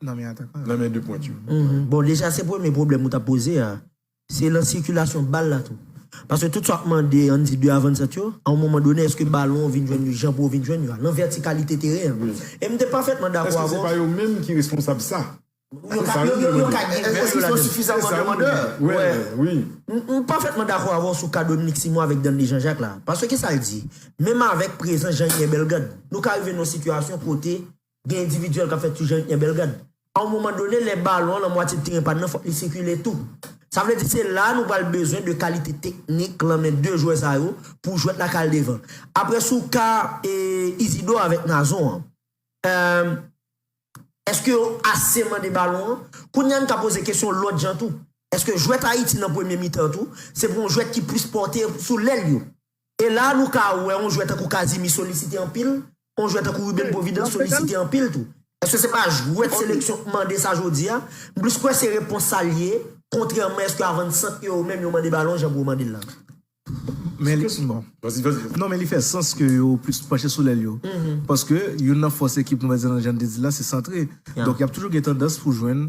nan men 2 pwent yo. Bon deja se premye pwoblèm ou ta poze a, se lan sikilasyon bal la tou. Paske tout sa wap mande an di 2 avannsant yo, a yon moman done eske balon an vin jwenn yo jan pou yo vin jwenn yo a, lan vètikalite teren an. E m te pafètman dakò avè w. Eske se pa yo menm ki responsab sa? Yo ka gen wòl yo ladan. Eske yo son sifizaman demandè? Wè, m pafètman dakò avè w sou ka Dominik Simon avèk Danley Jean Jacques la. Paske kisa l di? Menm avèk prezans Jean Ynen Bellegarde, nou ka rive nan yon sitiyasyon kote. Gen endividyèl k ap fè ti jan yo knyen bèl gad. A yon moman done, lè balon an nan mwatye teren pa n nan, fòk li sikile tou. Sa vle di se la a nou pral bezwen de kalite teknik lan men 2 jwè sa yo pou jwèt la ka al devan. Apre sou ka Izidò avèk Nazon an, èske yo ase mande balon an? Kounye a n ka poze kesyon lòt jan tou. Èske jwèt Ayiti nan premye mitan an tou, se pou yon jwèt ki plis pòte sou lèl yo? E la a nou ka wè on jwè tankou Casimir solisite anpil, on jwè tankou Ruben Providence solisite anpil tou. Èske se pa jwèt seleksyon k mande sa jodi a? M plis kwè se repons sa l ye, kontrèman èske avansant yo yo menm yo mande balon jan Bro mande l la. Men li Non men li fè sans ke yo plis panche sou lèl yo. Paske youn nan fòs ekip nou, pèsènèlman jan n te di l la, se santre. Donk y ap toujou gen tandans pou jwenn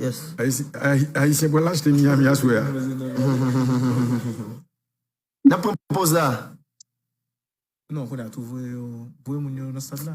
Yes. Ayisyen pral achte Miami aswè a. Nap pran poz la. Non kounye a tou voye yo voye moun yo nan stad la.